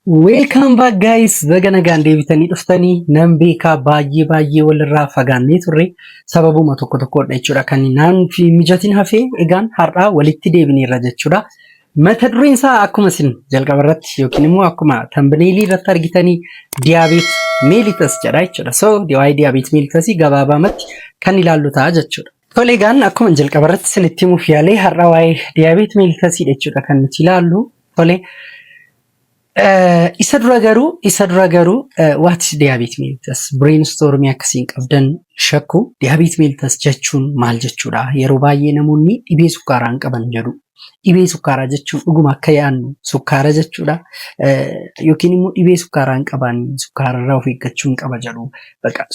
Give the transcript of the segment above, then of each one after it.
Welcome back guys baga nagaan deebitanii dhuftanii nan beekaa baay'ee baay'ee walirraa fagaannee turre sababuma tokko tokkodha jechuudha kan naan fi mijatiin hafee egaan har'aa walitti deebineerra jechuudha. Mata dureen isaa akkuma isin jalqaba irratti yookiin immoo akkuma tambineelii irratti argitanii diyaabeet meelitas jedha jechuudha. So waa'ee diyaabeet meelitasii gabaabaamatti kan ilaallu ta'a jechuudha. Tole egaan akkuma jalqaba irratti isinitti himuuf yaale har'a waa'ee diyaabeet meelitasiidha jechuudha kan nuti ilaallu. Tole isa dura garuu isa dura garuu what is diyaabeet meelitas brainstormii akkasiin qabdan shakku diyaabeet meelitas jechuun maal jechuudha yeroo baay'ee namoonni dhibee sukkaaraan qaban jedhu Dhibee sukkaaraa jechuun dhuguma akka yaadnu sukkaara jechuudha. Yookiin immoo dhibee sukkaaraa hin qaban sukkaara irraa of eeggachuu hin qaba jedhu. Baqa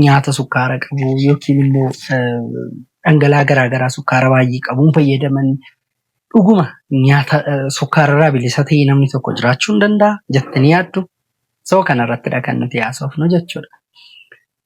nyaata sukkaara qabu yookiin immoo dhangala'aa garaagaraa sukkaara baay'ee qabuun fayyadaman dhuguma nyaata sukkaara irraa bilisa ta'ee namni tokko jiraachuu hin danda'a jettanii yaaddu. Soo kanarrattidha kan nuti haasofnu jechuudha.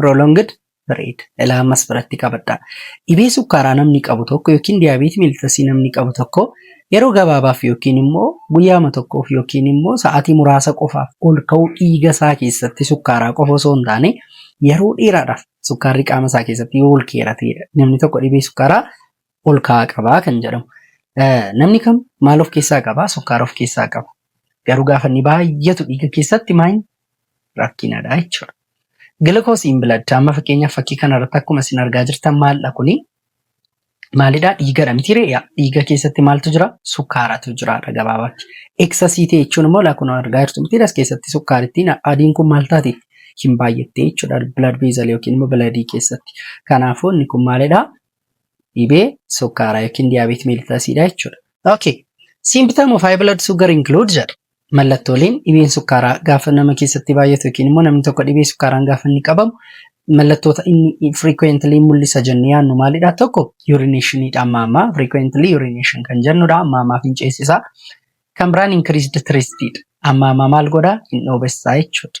Prolonged period ilaa ammas biratti qabadhaa. Dhibee sukkaaraa namni qabu tokko yookiin diyaabeetii miiltasii namni qabu tokko yeroo gabaabaaf yookiin immoo guyyaama tokkoof yookiin immoo sa'aatii muraasa qofaaf ol ka'uu dhiiga isaa keessatti sukkaaraa qofa osoo hin taane yeroo dheeraadhaaf sukkaarri qaama isaa keessatti yoo ol keerateedha. Namni tokko dhibee sukkaaraa ol ka'aa qabaa kan jedhamu. Namni kam maal of keessaa qabaa? Sukkaara of keessaa qaba. Garuu gaafa inni baay'atu dhiiga keessatti maal rakkinadha jechuudha. Gilikoos in blood amma fakkeenyaaf fakkii kanarratti akkuma isin argaa jirtan maaldha kuni? Maalidha dhiigadha miti reeya dhiiga keessatti maaltu jira? Sukkaaratu jiraadha gabaabaatti. Eksasii ta'e jechuun immoo lakkuma argaa jirtu miti as keessatti sukkaarittiin adiin kun maal taate? Hin baay'atte jechuudha blood vessel yookiin immoo biladii keessatti. Kanaafuu inni kun maalidha? dhibee sukkaaraa yookiin diyaabeetii meelitasiidha jechuudha. Okay. Symptom of high blood sugar include jedha. Mallattooleen dhibeen sukkaaraa gaafa nama keessatti baay'atu yookiin immoo namni tokko dhibee sukkaaraan gaafa inni qabamu mallattoota inni frequently mul'isa jennee yaannu maalidha? Tokko urinationiidha amma ammaa frequently urination kan jennudha amma ammaa finceessisaa. Kan biraan increased thirstidha. Amma ammaa maal godha? Hin dhoobessaa jechuudha.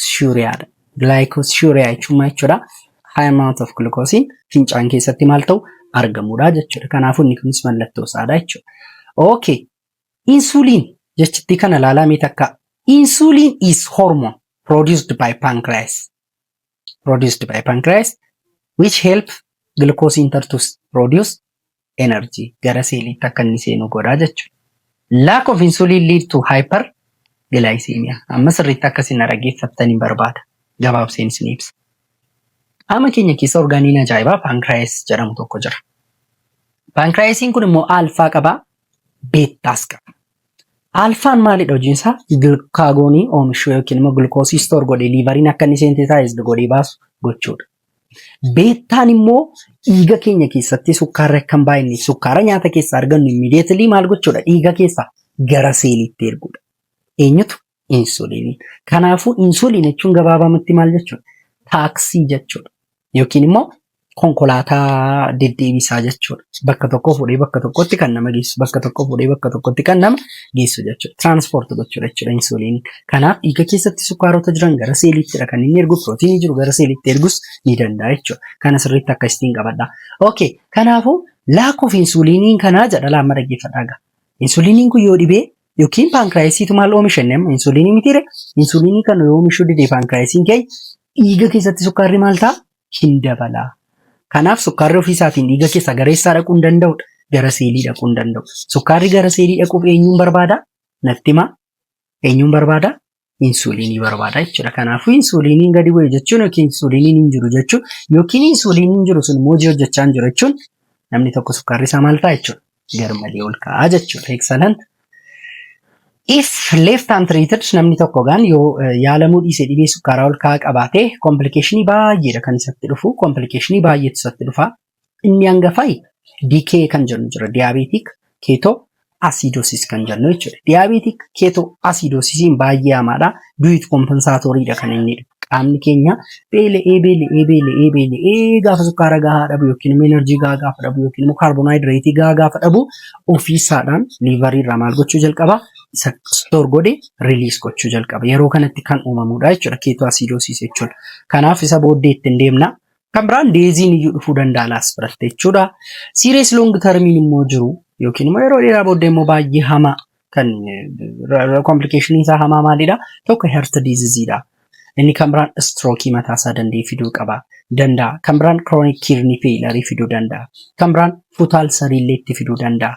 glycosuria dha. Glycosuria jechuun maal jechuudha? High amount of glucose fincaan keessatti maal ta'u argamudha jechuudha. Kanaafuu inni kunis mallattoo isaadha jechuudha. Okay. Insulin jechittii kana ilaalaa mee takka. Insulin is hormone produced by pancreas. Produced by pancreas which help glucose enter to produce energy gara seeliitti akka inni seenu godha jechuudha. Lack of insulin lead to hyper glycemia. Amma sirriitti akka isin dhaggeeffattan hin barbaada. Gabaabseen isin ibsa. Qaama keenya keessa orgaaniin ajaa'ibaa paankiraayis jedhamu tokko jira. Paankiraayisiin kun immoo aalfaa qaba, beettaas qaba. Aalfaan maalidha hojiin isaa? Gilukaagoonii oomishuu yookiin immoo gilkoosii istoor godhee liivariin akka inni seente taasisdu godhee baasu gochuudha. Beettaan immoo dhiiga keenya keessatti sukkaarri akka hin baay'anneef sukkaara nyaata keessaa argannu immiidiyeetilii maal gochuudha? Dhiiga keessaa gara seeliitti erguudha. Eenyutu? Insuuliinii. Kanaafuu insuuliin jechuun gabaabamatti maal jechuudha? Taaksii jechuudha. Yookiin immoo konkolaataa deddeebisaa jechuudha. Bakka tokkoo fuudhee bakka tokkotti kan nama geessu, bakka tokkoo fuudhee bakka tokkotti kan nama geessu jechuudha. Tiraanspoort gochuudha jechuudha insuuliin. Kanaaf dhiiga keessatti sukkaarota jiran gara seeliittidha kan inni ergu pirootiinii jiru gara seeliitti ergus ni danda'a jechuudha. Kana sirriitti akka istiin qabadha. Okay, kanaafuu laakkoof insuuliinii kanaa jedha laamma dhaggeeffadhaa gaa. Insuuliiniin kun yoo dhibee yookiin paankiraayisiitu maal oomisha inni amma insuuliinii mitiire insuuliinii kana yoo oomishuu didee paankiraayisiin keenya dhiiga keessatti sukkaarri maal ta'a hin dabala. Kanaaf sukkaarri ofii isaatiin dhiiga keessaa gara eessaa dhaquu hin danda'udha? Gara seelii dhaquu hin danda'u. Sukkaarri gara seelii dhaquuf eenyuun barbaada? Natti himaa. Eenyuun barbaada? Insuuliinii barbaada jechuudha. Kanaafuu insuuliiniin gadi bu'e jechuun yookiin insuuliiniin hin jiru jechuun yookiin insuuliiniin jiru sun immoo hojii hojjechaa hin jiru jechuun namni tokko sukkaarri isaa maal ta'a jechuudha? garmalee ol ka'aa jechuudha. Excellent. If left untreated namni tokko gaan yoo eh, yaalamuu dhiise dhibee sukkaaraa ol ka'aa qabaate komplikeeshinii baay'eedha kan isatti dhufu komplikeeshinii baay'eetu isatti dhufa. Inni hangafai DK kan jennu jira diyaabeetik keetoo asiidoosis kan jennu jechuudha. Diyaabeetik keetoo asiidoosisiin baay'ee hamaadha. du'it kompensaatooriidha kan inni dhufu. Qaamni keenya beela'ee beela'ee beela'ee beela'ee gaafa sukkaara gahaa dhabu yookiin immoo enerjii gahaa gaafa dhabu yookiin immoo kaarbonaayidireetii gahaa gaafa dhabu ofiisaadhaan liivarii irraa maal gochuu jalqaba isa stoor godhe riliis gochuu jalqaba. Yeroo kanatti kan uumamudha jechuudha keetoo asiidoosiis jechuudha. Kanaaf isa booddee ittiin deemna. Kan biraan deeziin iyyuu dhufuu danda'a laas biratte jechuudha. Siiriyees loong tarmiin immoo jiru yookiin immoo yeroo dheeraa booddee immoo baay'ee hamaa kan komplikeeshiniin isaa hamaa maalidha? Tokko herta diiziziidha. Inni kan biraan istrookii mataa isaa danda'e fiduu qaba. Danda'a. Kan biraan kiroonik kiirni feelarii fiduu danda'a. Kan biraan futaal sariillee itti fiduu danda'a.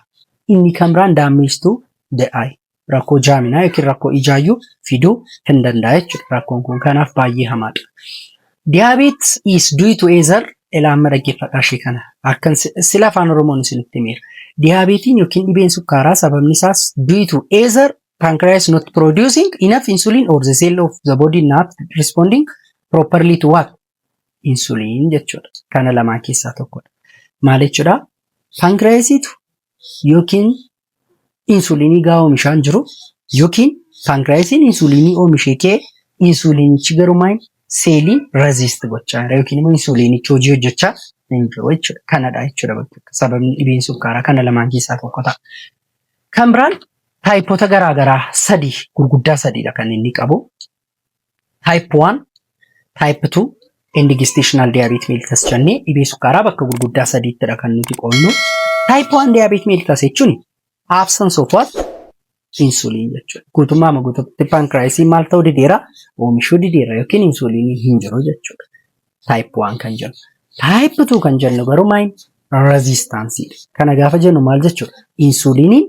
Inni kan biraan daammeestuu da'aay. Rakkoo jaaminaa yookiin rakkoo ijaayyuu fiduu hin danda'a jechuudha. Rakkoon kun kanaaf baay'ee hamaadha. Diabetes is due to either ilaa amma dhaggeeffadhaa ishee kana akkan sila afaan oromoon isinitti himeera. Diyaabeetiin yookiin dhibeen sukkaaraa sababni isaas due to either pancreas not producing enough insulin or the cell of the body not responding properly to what insulin jechuudha. Kana lamaan keessaa tokkodha. Maal jechuudha? Pankiraayisiitu yookiin insuuliinii gaa oomishaan jiru yookiin paankiraayisiin insuuliinii oomishee kee insuuliinichi garuu maal seelii raziist gochaa jira yookiin immoo insuuliinichi hojii hojjechaa hin jiru jechuudha. Kanadha jechuudha bakka sababni dhibeen sukkaaraa kana lamaan keessaa tokko ta'a. Kan biraan taayipota garaagaraa sadii gurguddaa sadiidha kan inni qabu. Type 1, Type 2, and gestational diabetes mellitus jennee dhibee sukkaaraa bakka gurguddaa sadiittidha kan nuti qoodnu. Type 1 diabetes mellitus jechuun absence of what? Insulin jechuudha. Guutummaa maguututti pankiraayisiin maal ta'uu dideera? Oomishuu dideera yookiin insuliinii hin jiru jechuudha. Type 1 kan jennu. Type 2 kan jennu garuu maal rezistaansiin. Kana gaafa jennu maal jechuudha? Insuuliiniin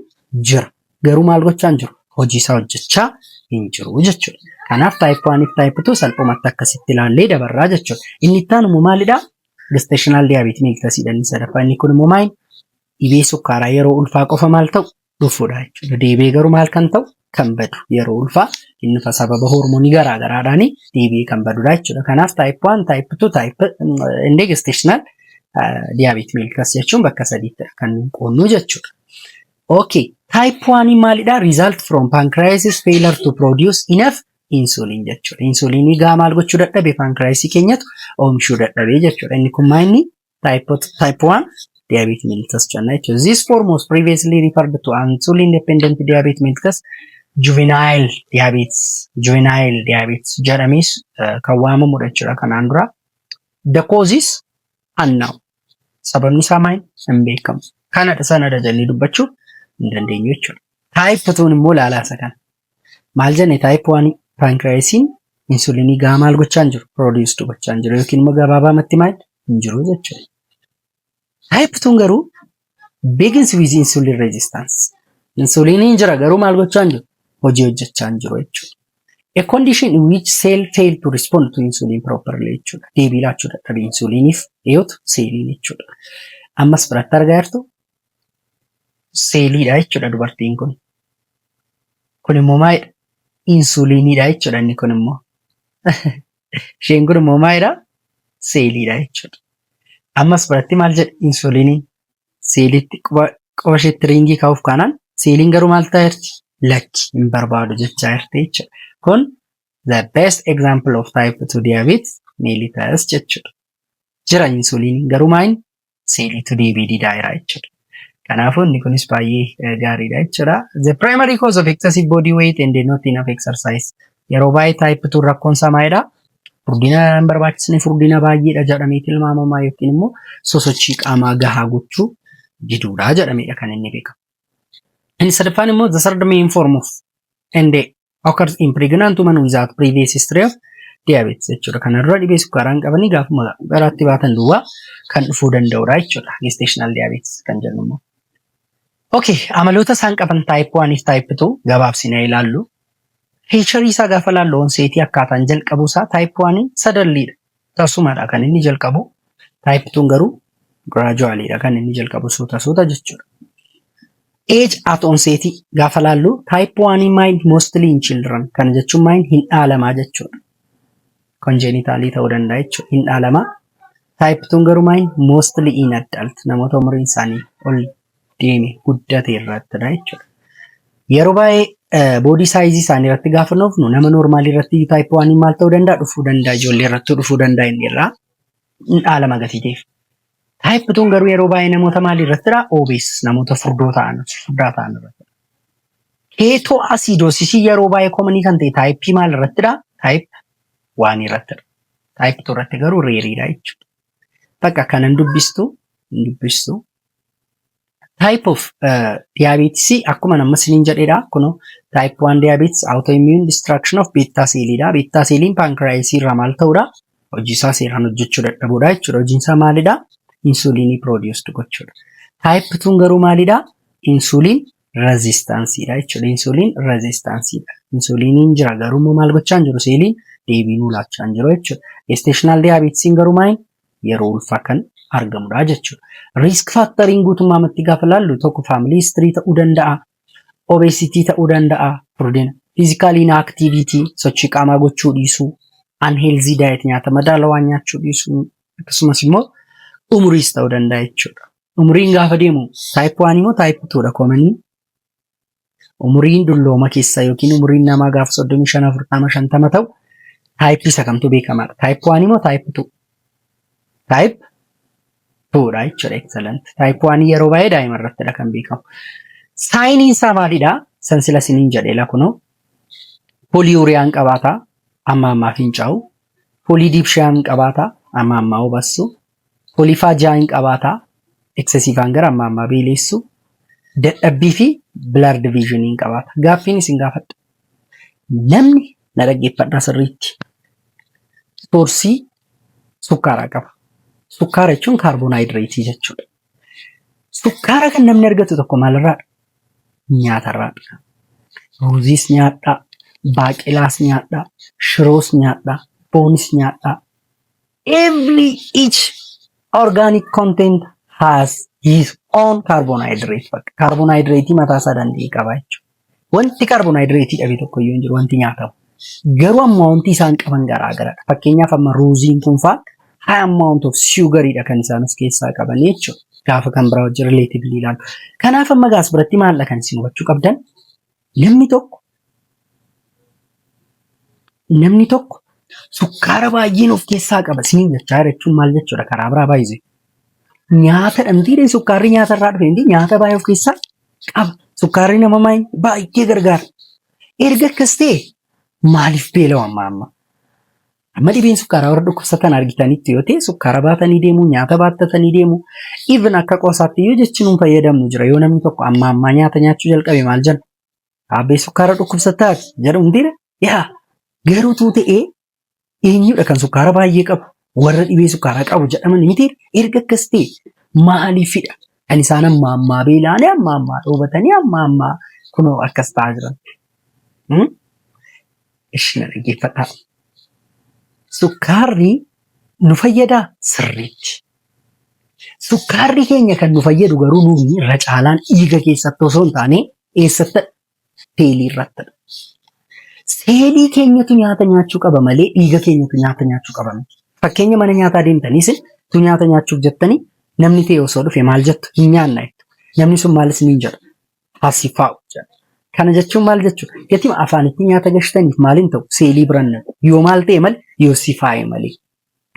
jira. Garuu maal gochaa hin jiru? Hojii isaa hojjechaa hin jiru jechuudha. Kanaaf type 1 fi type 2 salphumatti akkasitti ilaallee dabarraa jechuudha. Inni itti aanu immoo maalidha? Gestational diabetes mellitus inni sadaffaa inni kun immoo maal? Dhibee sukkaaraa yeroo ulfaa qofa maal ta'u? dhufudha jechuudha. Deebi'ee garuu maal kan ta'u kan badu yeroo ulfaa inni fa sababa hormonii garaa garaadhaan deebi'ee kan badudha jechuudha. Kanaaf type 1, type 2, type inni gestational diabetes mellitus jechuun bakka sadiitti kan qoodnu jechuudha. Okay, type 1 maalidha? Result from pancreasis failure to produce enough insulin jechuudha. Insulinii gaa maal gochuu dadhabe pancreasii keenyatu oomishuu dadhabe jechuudha. Inni kun maal inni Type, type 1 diabetes mellitus jenna jechuudha. This form was previously referred to as insulin dependent diabetes mellitus juvenile diabetes juvenile diabetes jedhamees eh, kan waamamudha jechuudha kanaan dura. The causes unknown. Sababni isaa maal hin beekamu. Kanadha sanadha jennee dubbachuu hin dandeenyu jechuudha. Type 2 immoo ilaalaa isa kana. Maal jenne type 1 pancreasiin insulinii gahaa maal gochaan jiru produced gochaan jiru yookiin immoo gabaabaamatti maal hin jiru jechuudha. Type 2 garuu begins with insulin resistance. Insuliniin jira garuu maal gochaan jiru hojii hojjechaan jiru jechuudha. A condition in which cell fail to respond to insulin properly jechuudha. Deebii laachuu dadhabe insuliniif dhiyootu seeliin jechuudha. Ammas biratti argaa jirtu seeliidha jechuudha dubartiin kun. Kun immoo maalidha? Insuuliiniidha jechuudha inni kun immoo. Isheen kun immoo maalidha? Seeliidha jechuudha. Ammas biratti maal jedhe? Insuuliiniin seeliitti quba quba isheetti riingii kaa'uuf kaanaan seeliin garuu maal ta'aa jirti? Lakki hin barbaadu jechaa jirti jechuudha. Kun the best example of type 2 diabetes mellitus jechuudha. Jira insuuliiniin garuu maal hin seeliitu deebii didaa jira jechuudha. Kanaafuu inni kunis baay'ee gaariidha jechuudha. The primary cause of excessive body weight and not enough exercise. Yeroo baay'ee type 2 rakkoon samaayidha. Furdina hin barbaachisne furdina baay'eedha jedhamee tilmaamama yookiin immoo sosochii qaamaa gahaa gochuu diduudha jedhameedha kan inni beekamu. Inni sadaffaan immoo the third main form of and occurs in pregnant woman without previous history of diabetes jechuudha. Kana dura dhibee sukkaaraa hin qabanii gaafuma garaatti baatan duwwaa kan dhufuu danda'udha jechuudha. Gestational diabetes kan jennu immoo. Okay, amaloota isaan qaban type 1 fi type 2 gabaabsinee ilaallu. Feature isaa gaafa ilaallu onseetii akkaataan jalqabuu isaa type 1 sadarliidha. Tasumadha kan inni jalqabu type tun garuu gradually dha kan inni jalqabu suuta suuta jechuudha. Age at onset gaafa laallu type 1 mind mostly in children kana jechuun mind hin dhaalamaa jechuudha. Konjeenitaalii ta'uu danda'a jechuudha hin dhaalamaa. Type tun garuu mind mostly in adult namoota umriin isaanii ol deeme guddate irrattidha jechuudha. Yeroo baay'ee boodii saayizii isaanii irratti gaafa nuufnu nama noormaalii irratti taayippii waanii maal ta'uu danda'a dhufuu danda'a ijoollee irratti dhufuu danda'a inni irraa dhaala magatiiteef. Taayippii tun garuu yeroo baay'ee namoota maalii irrattidha oobees namoota furdoo ta'an furdaa ta'an irratti. Keetoo asiidoosisii yeroo baay'ee koomanii kan ta'e taayippii maal irrattidha taayippii waanii irrattidha. Taayippii tun irratti garuu reeriidha jechuudha. Bakka kanan dubbistu hin dubbistu Type of uh, diabetes akkuma amma sinin jedhedha kuno type 1 diabetes autoimmune destruction of beta cell dha beta cellin pancreas irraa maal ta'udha hojii isaa seeraan hojjechuu dadhabudha jechuudha hojiin isaa maalidha insulinii produce gochuudha type 2 garuu maalidha insulin resistance dha jechuudha insulin resistance dha insuliniin jira garuu immoo maal gochaa hin jiru seeliin deebii nuu laachaa hin jiru jechuudha gestational diabetes garuu maal yeroo ulfaa kan argamudha jechuudha. Risk faakteriin guutummaamatti gaafa laallu tokko faamilii histirii ta'uu danda'a, obesitii ta'uu danda'a, furdina, fiizikaal inaaktiivitii, sochii qaamaa gochuu dhiisuu, anheelzii daayit nyaata madaalawaa nyaachuu dhiisuu, akkasumas immoo umuriis ta'uu danda'a jechuudha. Umuriin gaafa deemu taayip 1 immoo taayip 2 dha koomanii Umuriin dullooma keessaa yookiin umuriin namaa gaafa 35 40 50 ta'u taayippii isa kamtu beekamaadha. Taayip 1 moo taayip 2? Taayip 2 dha jechuudha excellent. Taayip 1 yeroo baay'ee daa'ima irrattidha kan beekamu. Saayiniin isaa maalidha? San sila siniin jedheela kunoo. Poliuriyaan qabaata amma ammaa fincaa'u. Polidiipshiyaan qabaata amma ammaa hubassu. Kolifaa ja'a in qabaata, excessive anger amma ammaa beeleessu, dadhabbii fi blurred vision in qabaata. Gaaffiin isin gaafadha. Namni na dhaggeeffadhaa sirriitti soorsii sukkaaraa qaba. Sukkaara jechuun kaarbonaayidireetii jechuudha. Sukkaara kan namni argatu tokko maalirraadha? Nyaatarraadha. Ruuziis nyaadhaa, baaqelaas nyaadhaa, shiroos nyaadhaa, foonis nyaadhaa. Every each organic content has his own carbohydrate bakka carbohydrate mataa isaa danda'e qaba jechuudha. Wanti carbohydrate dhabe tokko iyyuu hin jiru wanti nyaatamu. Garuu amma wanti isaan qaban garaa garadha. Fakkeenyaaf amma ruuziin kun faa high amount of sugar dha kan isaan of keessaa qaban jechuudha. Gaafa kan biraa wajjin relatively ilaalu. Kanaaf amma gaas biratti maal dha kan isin hubachuu qabdan? Namni tokko namni tokko sukkaara baay'een of keessaa qaba isiniin jechaa jira jechuun maal jechuudha karaa biraa baay'ise. Nyaatadha mitiidha sukkaarri nyaata irraa dhufe miti nyaata baay'ee of keessaa qaba. Sukkaarri nama maal- baay'ee gargaara. Erga akkas ta'e maaliif beelawa amma amma? Amma dhibeen sukkaaraa warra dhukkubsatan argitanitti yoo ta'e sukkaara baatanii deemu, nyaata baattatanii deemu. Even akka qoosaatti iyyuu jechi nuun fayyadamnu jira. Yoo namni tokko ammaa ammaa nyaata nyaachuu jalqabe maal jenna? Aabbee sukkaara dhukkubsataati jedhu hundira. Yaa garuu tuu ta'ee eenyudha kan sukkaara baay'ee qabu? Warra dhibee sukkaaraa qabu jedhaman miti erga akkas ta'e maaliifidha? Kan isaan ammaa ammaa beela'anii ammaa ammaa dhoobatanii ammaa ammaa kunoo akkas ta'aa jiran. Ishii na dhaggeeffadhaa. Sukkaarri nu fayyadaa sirriitti. Sukkaarri keenya kan nu fayyadu garuu nuuni irra caalaan dhiiga keessatti osoo hin taane eessatti seelii irratti. Seelii keenyatu nyaata nyaachuu qaba malee dhiiga keenyatu nyaata nyaachuu qaba miti. Fakkeenya mana nyaataa deemtaniis tu nyaata nyaachuuf jettanii namni ta'e osoo dhufe maal jettu hin nyaanna jettu. Namni sun maalis ni jedha. hasifaa'u jedha. Kana jechuun maal jechuudha? Gatima afaanitti nyaata gashtaniif maaliin ta'u seelii biraan naqu. Yoo maal ta'e malee yoo sifaa'e malee.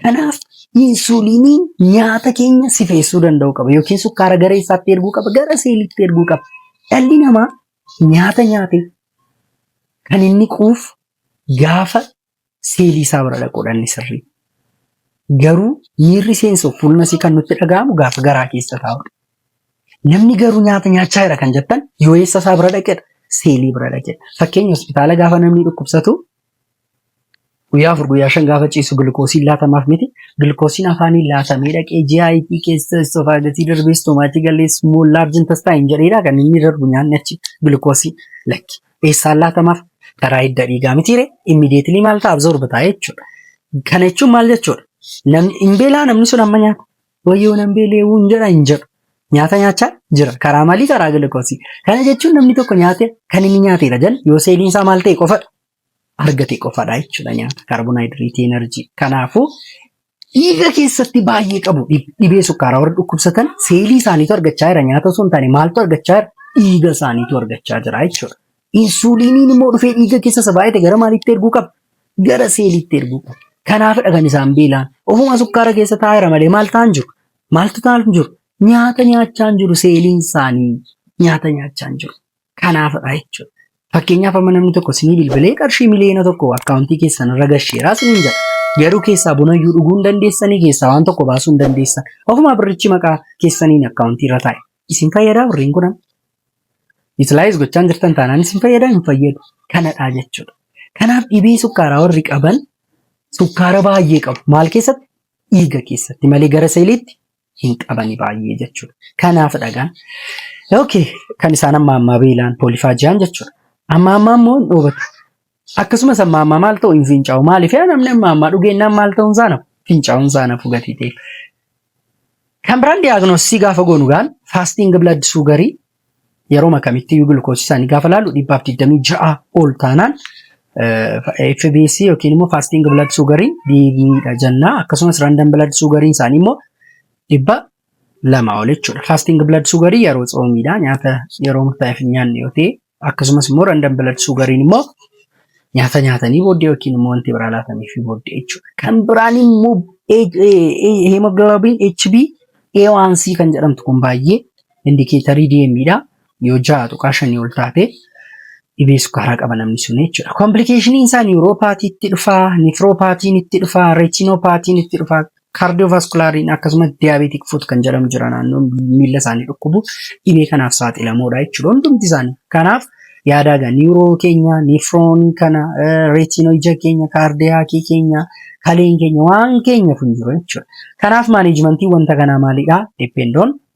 Kanaaf insuliiniin nyaata keenya sifeessuu danda'u qaba yookiin sukkaara gara isaatti erguu qaba gara seeliitti erguu qaba. Dhalli namaa nyaata nyaate kan inni quuf gaafa seelii isaa bira dhaquudha inni sirrii. Garuu miirri seensuuf fuuluma isii kan nutti dhaga'amu gaafa garaa keessa taa'udha. Namni garuu nyaata nyaachaa jira kan jettan yoo eessa isaa bira dhaqedha seelii bira dhaqedha. Fakkeenya hospitaala gaafa namni dhukkubsatu guyyaa afur guyyaa shan gaafa ciisu gilkoosiin laatamaaf miti gilkoosiin afaanii laatamee dhaqee GIT keessa istofaagasii darbee istomaachii galees mool laarjin tastaa hin jedheedha kan inni darbu nyaanni achi gilkoosii lakki. eessaan laatamaaf karaa hidda dhiigaa mitiire immediately maal ta'a absorb ta'a jechuudha. Kana jechuun maal jechuudha? Namni hin beelaa namni sun amma nyaata wayyoo nan beelee wuun jedha hin jedhu. Nyaata nyaachaa jira. Karaa maalii karaa gilikoosii. Kana jechuun namni tokko nyaate kan inni nyaateedha jedhan yoo seeliin isaa maal ta'e qofadha. Argate qofadha jechuudha nyaata kaarbonaayidireetii enerjii. Kanaafuu Dhiiga keessatti baay'ee qabu dhibee sukkaaraa warra dhukkubsatan seelii isaaniitu argachaa jira nyaata osoo hin taane maaltu argachaa jira dhiiga isaaniitu argachaa jira jechuudha. Insuuliiniin immoo dhufee dhiiga keessa isa baay'ate gara maaliitti erguu qaba? Gara seeliitti erguu qaba. Kanaafidha kan isaan beelaan. Ofuma sukkaara keessa taa'eera malee maal ta'an jiru? Maaltu ta'an jiru? Nyaata nyaachaa hin jiru seeliin isaanii nyaata nyaachaa hin jiru. kanaafidha jechuudha. Fakkeenyaaf amma namni tokko sinii bilbilee qarshii miliyoona tokko akkaawuntii keessan irra gasheeraa siniin jedha. Garuu keessaa bunayyuu dhuguu hin dandeessanii keessaa waan tokko baasuu hin dandeessan. Ofumaa birrichi maqaa keessaniin akkaawuntii irra taa'e. Isin fayyadaa birriin kun amma? Utilize gochaa hin jirtan taanaan isin fayyadaa hin fayyadu. Kanadha jechuudha. Kanaaf dhibee sukkaaraa warri qaban sukkaara baay'ee qabu. Maal keessatti? Dhiiga keessatti malee gara seeliitti hin qabani baay'ee jechuudha. Kanaaf dhagaan okay kan isaan amma ammaa beelaan poolifaajiyaan jechuudha. Amma ammaa immoo hin dhoobatu. Akkasumas amma ammaa maal ta'u hin fincaa'u. Maaliif yaa namni amma ammaa dhugeennaan maal ta'uun isaa nafu fincaa'uun isaa nafu gatii ta'eef. Kan biraan diyaagnoosisii gaafa goonu gaan faastiin blood sugarii Yeroma kamitti iyyuu glukoosii isaanii gaafa laallu dhibbaaf 26 ol taanaan FBC yookiin immoo fasting blood sugariin dhiigiidha jenna. Akkasumas random blood sugariin isaanii immoo dhibba lama ol jechuudha. Fasting blood sugarii yeroo tsoomiidha. Nyaata yeroo murtaa'eef hin nyaanne yoo ta'e akkasumas immoo random blood sugariin immoo nyaata nyaatanii booddee yookiin immoo wanti biraa laataniif booddee jechuudha. Kan biraan immoo hemoglobin HB A1C kan jedhamtu kun baay'ee indikeetarii DM dha. Yoo ja'a tuqaa shanii ol taate dhibee sukkaaraa qaba namni sun jechuudha. Komplikeeshiniin isaa niwuroopaatii itti dhufaa, nifroopaatiin itti dhufaa, reetinopaatiin itti dhufaa, kaardiyovaskulaariin akkasumas diyaabeetik fuut kan jedhamu jira naannoon miila isaanii dhukkubu dhibee kanaaf saaxilamoodha jechuudha hundumti isaanii. Kanaaf yaadaa gaa niwuroo keenya, nifroon kana, reetinoo ija keenya, kaardiyaakii keenya, kaleen keenya waan keenya kun jiru jechuudha. Kanaaf maaneejimantiin wanta kanaa maalidha? Deppendoon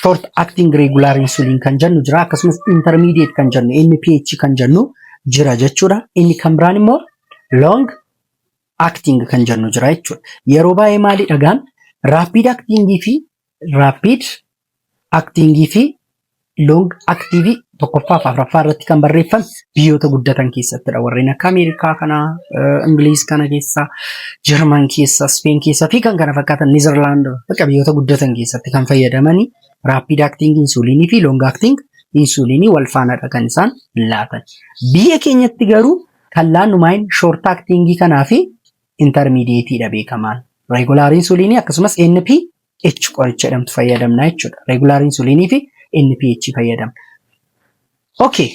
short acting regular insulin kan jennu jira akkasumas intermediate kan jennu NPH kan jennu jira jechuudha. Inni kan biraan immoo long acting kan jennu jira jechuudha. Yeroo baay'ee maali dhagaan rapid acting fi rapid acting fi long active tokkoffaa fi afraffaa irratti kan barreeffame biyyoota guddatan keessattidha. Warreen akka Ameerikaa kana, Ingiliiz kana keessa, Jarman keessa, Speen keessa fi kan kana fakkaatan Niizerlaand bakka biyyoota guddatan keessatti kan fayyadamani raappiid aktiing insuuliinii fi loong aktiing insuuliinii wal faanadha kan isaan laatan. Biyya keenyatti garuu kan laannu maayin shoort aktiingii kanaa fi intarmiidiyeetiidha beekamaan. Reegulaar insuuliinii akkasumas NP NPH qoricha jedhamtu fayyadamna jechuudha. Regular insulin fi NPH fayyadamna. Okay.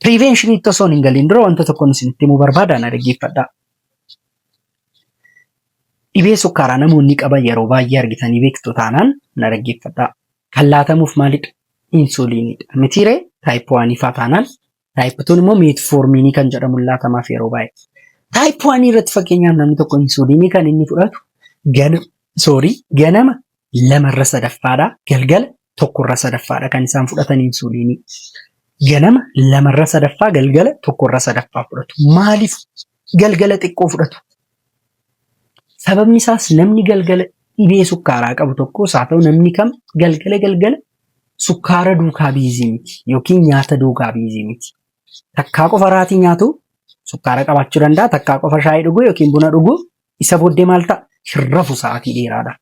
Prevention itti osoo hin galiin dura wanta tokkoon isinitti himuu barbaada na dhaggeeffadhaa. Dhibee sukkaaraa namoonni qaban yeroo baay'ee argitanii beektu taanaan na dhaggeeffadhaa. Kan laatamuuf maalidha? Insuliinidha. Mitiiree taayip waanii faa taanaan Taayip 2 immoo meetfoormiinii kan jedhamu laatamaaf yeroo baay'ee. Taayip 1 irratti fakkeenyaaf namni tokko insuuliinii kan inni fudhatu gana soorii ganama lamarra sadaffaadha galgala tokkorra sadaffaadha kan isaan fudhatan insuuliinii. Ganama lamarra sadaffaa galgala tokkorra sadaffaa fudhatu. Maaliif galgala xiqqoo fudhatu? Sababni isaas namni galgala dhibee sukkaaraa qabu tokkos haa ta'u namni kam galgala galgala sukkaara duukaa biizii miti yookiin nyaata duukaa biizii miti. Takkaa qofa raatii nyaatu sukkaara qabaachuu danda'a. Takkaa qofa shaayii dhuguu yookiin buna dhuguu isa booddee maal ta'a? Hin rafu sa'aatii dheeraadha.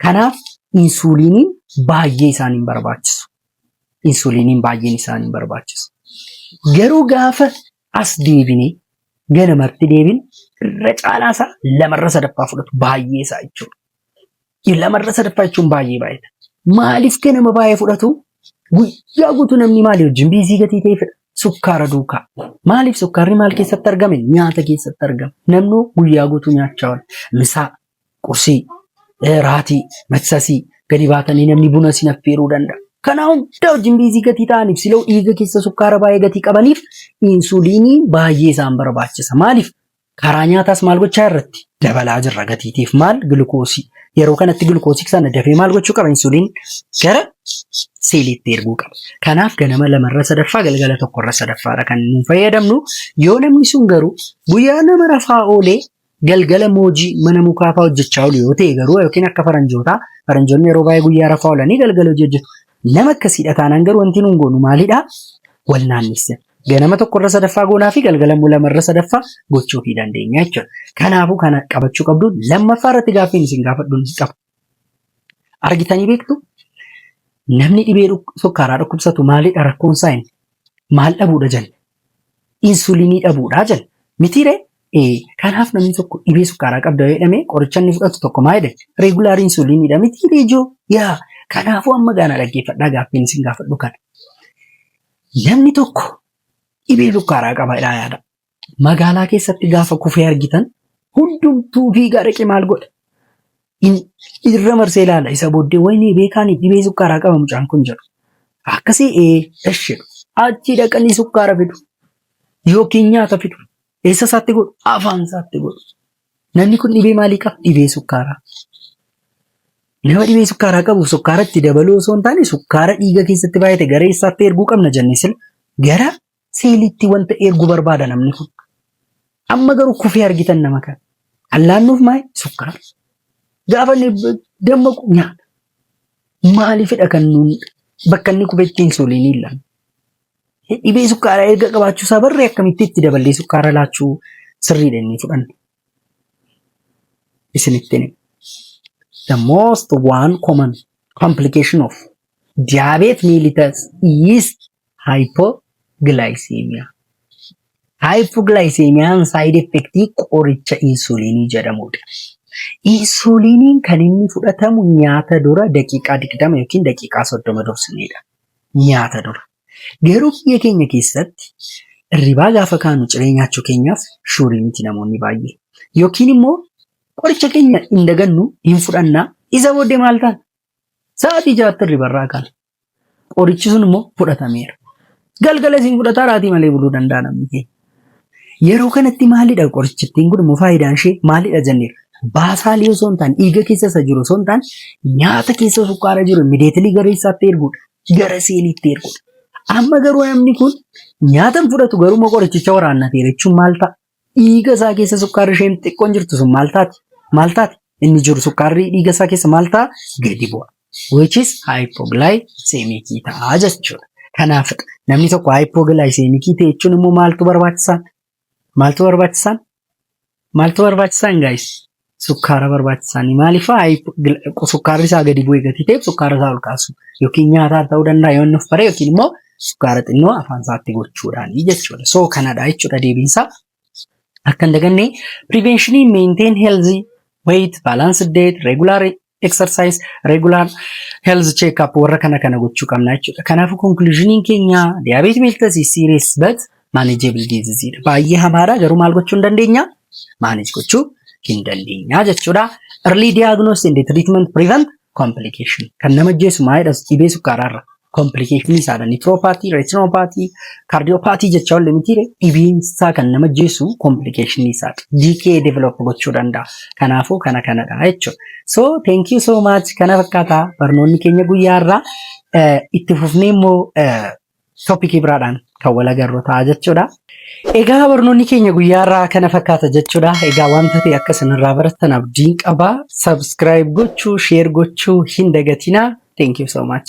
Kanaaf insuuliiniin baay'ee isaan hin barbaachisu. Insuuliiniin baay'een isaan hin barbaachisu. Garuu gaafa as deebinee ganamatti deebin irra caalaa isaa lamarra sadaffaa fudhatu baay'ee isaa jechuudha. Lamarra sadaffaa jechuun baay'ee baay'eedha. Maaliif ganama baay'ee fudhatu? Guyyaa guutuu namni maalii wajjin biizii gatii ta'e fedha? Sukkaara duukaa. Maaliif sukkaarri maal keessatti argame? Nyaata keessatti argame. Namni guyyaa guutuu nyaachaa oola. Misaa, qursii, eh, raatii, maksasii gadi baatanii namni buna isin affeeruu danda'a. Kana hunda wajjin biizii gatii ta'aniif siloo dhiiga keessa sukkaara baay'ee gatii qabaniif insuliinii baay'ee isaan barbaachisa. Maaliif? Karaa nyaataas maal gochaa irratti dabalaa jirra gatiitiif maal gilkoosii. Yeroo kanatti gilkoosii sana dafee maal gochuu qaba insuliin gara seeliitti erguu qaba. Kanaaf ganama lamarra sadaffaa galgala tokkorra sadaffaadha kan nuun fayyadamnu. Yoo namni sun garuu guyyaa nama rafaa oolee galgala moojii mana mukaa fa'aa hojjechaa oolu yoo ta'e garuu yookiin akka faranjootaa faranjoonni yeroo baay'ee guyyaa rafaa oolanii galgala hojii hojjetu. Nama akkasiidha taanaan garuu wanti nuun goonu maalidha? Wal naannessa. Ganama tokkorra sadaffaa goonaa fi galgala immoo lamarra sadaffaa gochuu fi dandeenya jechuudha. Kanaafuu kana qabachuu qabdu lammaffaa irratti gaaffiin isin gaafadhu qaba. Argitanii beektu namni dhibee sukkaaraa dhukkubsatu maalidha rakkoon isaa inni? Maal dhabuudha jenna? Insulinii dhabuudha jenna. Mitiiree? Kanaaf namni tokko dhibee sukkaaraa qabda jedhamee qoricha inni fudhatu tokko maal jedhe? Reegulaar insuliiniidha mitiiree ijoo? Yaa kanaafuu amma gaana dhaggeeffadhaa gaaffiin isin gaafadhu kana. Namni tokko dhibee sukkaaraa qaba jedhaa yaada. magaalaa keessatti gaafa kufee argitan hundumtuu fiigaa dhaqee maal godha? In- Irra marsee ilaala isa booddee wayinee beekaanii dhibee sukkaaraa qaba mucaan kun jedhu. Akkasii ee esh jedhu. Achii dhaqanii sukkaara fidu yookiin nyaata fidu. Eessa isaatti godhu? Afaan isaatti godhu. Namni kun dhibee maalii qaba? Dhibee sukkaaraa. Nama dhibee sukkaaraa qabu sukkaara itti dabaluu osoo hin taane sukkaara dhiiga keessatti baay'ate gara eessaatti erguu qabna jennee sila gara Siilitti wanta ergu barbaada namni kun. Amma garuu kufee argitan nama kana. Allaannuuf maali? Sukkaara. Gaafa inni dammaqu nyaata. Maaliifidha kan nuun bakka inni kufetti insuuliinii hin laanne? Dhibee sukkaaraa erga qabaachuu isaa barree akkamitti itti daballee sukkaara laachuu sirriidha inni fudhanne. isinittiin hima. The most one common complication of diabetes mellitus is hypoglycemia. Hypoglycemiaan side effect qoricha insulinii jedhamudha. Insuliniin kan inni fudhatamu nyaata dura daqiiqaa 20 yookiin daqiiqaa 30 dursinedha. nyaata dura. Garuu biyya keenya keessatti irribaa gaafa kaanu ciree nyaachuu keenyaaf shuurii miti namoonni baay'ee. Yookiin immoo qoricha keenya hin dagannu hin fudhanna isa booddee maal taana? Sa'aatii jaatti irribarraa kaana. Qorichi sun immoo fudhatameera. Galgala isin fudhataa raatii malee buluu danda'a namni keenya. Yeroo kanatti maalidha qorichittiin kun immoo faayidaan ishee maalidha jenneera. Baasaalii osoo hin taane dhiiga keessa isa jiru osoo hin taane nyaata keessa sukkaara jiru mideetilii gara isaatti erguudha. Gara seeliitti erguudha. Amma garuu namni kun nyaata hin fudhatu garuu immoo qorichicha waraannateera jechuun maal ta'a? Dhiiga isaa keessa sukkaarri isheen xiqqoon jirtu sun maal taati? Maal taati? Inni jiru sukkaarri dhiiga isaa keessa maal ta'a? Gadi bu'a. which is hypoglycemic ta'a jechuudha. Kanaaf namni tokko hypoglycemic ta'e jechuun immoo maaltu barbaachisaan? Maaltu barbaachisaan? Maaltu barbaachisaan guys? Sukkaara barbaachisaan maaliif sukkaarri isaa gadi bu'ee gatii ta'eef sukkaara isaa ol kaasu yookiin nyaataan ta'uu danda'a yoo inni of bare yookiin immoo sukkaara xinnoo afaan isaatti gochuudhaan jechuudha. So kanadha jechuudha deebiin isaa Akka hin daganne preventionii maintain health weight balanced diet regular exercise regular health check up warra kana kana gochuu qabna jechuudha. Kanaafuu conclusioniin keenya diabetes mellitus is serious but manageable disease dha. Baay'ee hamaadha garuu maal gochuu hin dandeenya? Manage gochuu hin dandeenya jechuudha. Early diagnosis and treatment prevent complication. Kan nama ajjeesu maalidhas dhibee sukkaaraarra. komplikeeshinii isaadha. Nitiroopaati, reetinopaati, kaardiyoopaati jecha olli mitiire dhibiinsaa kan nama jeessu komplikeeshinii isaadha. DK develop gochuu danda'a. Kanaafuu kana kanadha jechuudha. So thank you so much kana fakkaata barnoonni keenya guyyaa irraa eh, itti fufnee immoo eh, toopikii biraadhaan kan wal agarru ta'a jechuudha. Egaa barnoonni keenya guyyaa irraa kana fakkaata jechuudha. Egaa wanta ta'e akka isinirraa barattan abdiin qaba. Subscribe gochuu, share gochuu hin dagatinaa. Thank you so much.